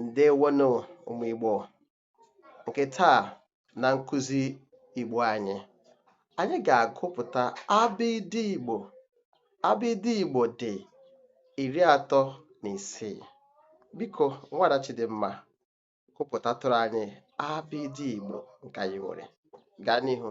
ǹdeewonụ ụmụ̀ Igbò ǹkè taà na nkuzi Ìgbò anyị anyị gà-àgụpụ̀ta abịdị Ìgbò abịdị Ìgbò dị̀ ìri atọ nà ìsii biko nwaàda Chidimma gụpụ̀tatụrụ anyị abịdị Ìgbò ǹkè anyị nwèrè gaa n'ihu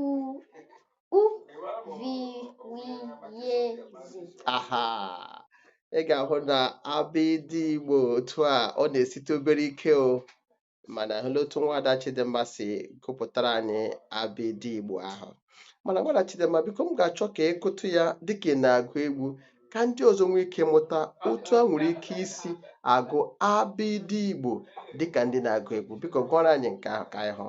u ụ vi wi ye zi aha ị ga-ahụ na abịdị igbo otu a ọ na-esite obere ike o mana a hụla otu nwaada chidimma si gụpụtara anyị abịdị igbo ahụ mana nwaada chidimma biko m ga-achọ ka ị gụtụ ya dịka ị na-agụ egwu ka ndị ọzọ nwee ike mụta otu a nwere ike isi agụ abịdị igbo dịka ndị na-agụ egwu biko gụọrọ anyị nke ahụ ka anyị hụ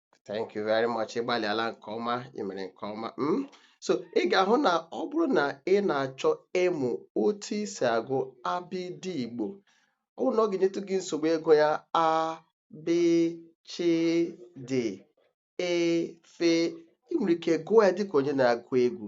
thank you very much ị gbalịala nke ọma ị mere nke ọma mm? so ị ga-ahụ na ọ bụrụ na ị na-achọ ịmụ otu i si agụ abịdị igbo ọ bụrụ na ọ ga-enyetụ gị nsogbu ịgụ ya a b ch d e f ị nwere ike gụọ ya dịka onye na-agụ egwu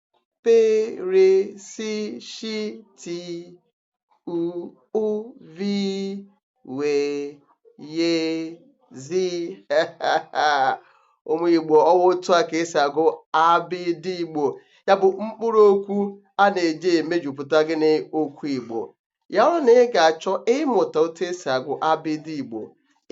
pe re si shi ti u ụ vi we ye zi ụmụ igbo ọ wụ otu a ka esi agụ abịdị igbo ya bụ mkpụrụ okwu a na-eji emejupụta gịnị okwu igbo ya bụrụ na ị ga-achọ ịmụta otu esi agụ abịdị Igbo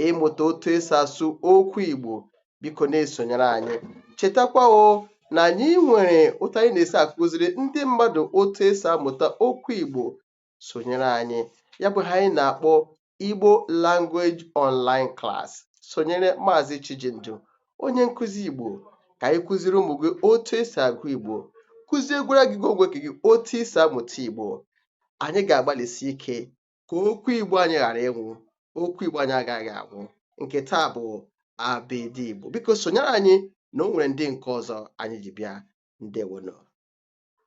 ịmụta otu esi asụ okwu Igbo biko na-esonyere anyị chetakwa o na anyị nwere otu anyị na-esi akụziri ndị mmadụ otu esi amụta okwu Igbo sonyere anyị ya bụ ihe anyị na-akpọ Igbo Language Online Class sonyere Maazị Chijindu onye nkụzi Igbo ka anyị kụziri ụmụ gị otu esi agụ Igbo kụziekwara gị gị ogwe gị otu i si amụta Igbo anyị ga-agbalịsi ike ka okwu Igbo anyị ghara ịnwụ okwu Igbo anyị agaghị anwụ nke taa bụ abịdị Igbo biko sonyere anyị na o nwere ndị nke ọzọ anyị ji bịa ndewonụ